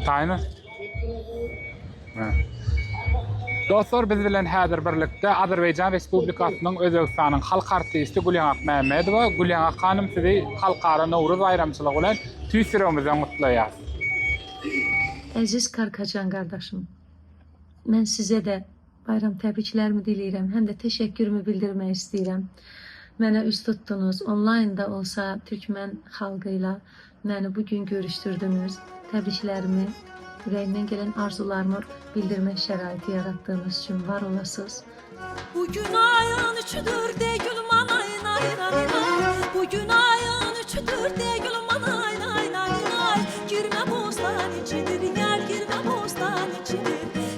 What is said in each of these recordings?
Taýyny. Dostlar, biz bilen häzir birlikde Azerbaýjan Respublikasynyň Özbegistanyň halk artisti Gülýan Akmämmedowa. Gülýan hanym, sizi Halkara Nowruz baýramçylygy bilen tüýs ýüregimizden gutlaýarys. Eziz Karkajan gardaşym, men size-de Baýram täbiçilerimi dileýrem hem-de teşekkürimi bildirmek isteýrem. Meni üns tutduňyz, onlaýnda bolsa türkmen halgyla meni bu gün görüşdirdiňiz. Täbiçilerimi, ýüregimden gelen arzuwlarymy bildirmek şeraýty ýaratdygyňyz üçin bar bolasyz. Bu gün aýyň üçüdir degil manaý naý naý naý Bu gün aýyň üçüdir degil manaý naý naý naý Girme bosdan içidir ýar girme bosdan içidir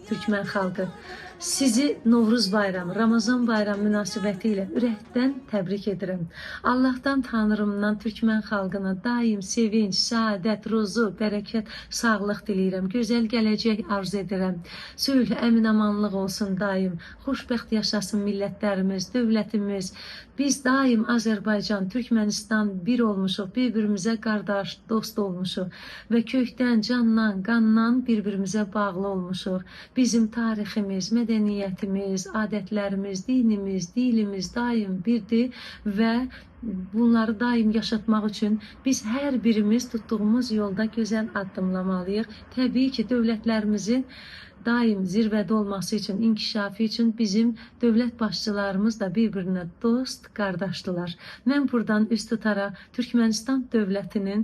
Türkmen halky Sizi Nowruz baýramy, Ramazan baýramy mynasybetyle ürehden tabrik edirin. Allahdan Tanrymdan Türkmen halkyna daýym sevinç, saadet, ruzu, bereket, saglyk dileýrem, gözel gelejek arz ederem. Sülh, emin-amanlyk bolsun daýym. Hoşbeht ýaşasyn milletlerimiz, döwletimiz. Biz daýym Azerbaýjan, Türkmenistan bir bolmuşyk, bir-birimize gardaş, dost bolmuşyk we köýkden, jandan, gandan bir-birimize bagly bolmuşyk. Biziň taryhymyz, medeniýetimiz, adetlerimiz, dinimiz, dilimiz daýym birdi we Bunlary daýym ýaşatmak üçin biz her birimiz tutdugymyz ýolda gözel addymlamalyk. Tebii ki, döwletlerimiziň daýym zirwede bolmasy üçin, inkişafy üçin bizim döwlet başçylarymyz-da bir-birine dost, gardaşdylar. Men burdan üz tutara Türkmenistan döwletiniň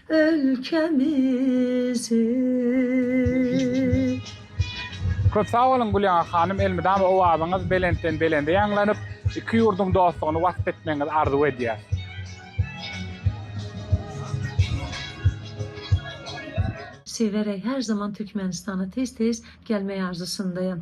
ölkemizi. Köp sag boluň Gülýaňa hanym elmydama owazyňyz belentden belende ýaňlanyp iki ýurduň dostlugyny wasp etmegiňizi arzuw edýäs. Sewerä her zaman Türkmenistana tez tez gelmeý arzusundaýam.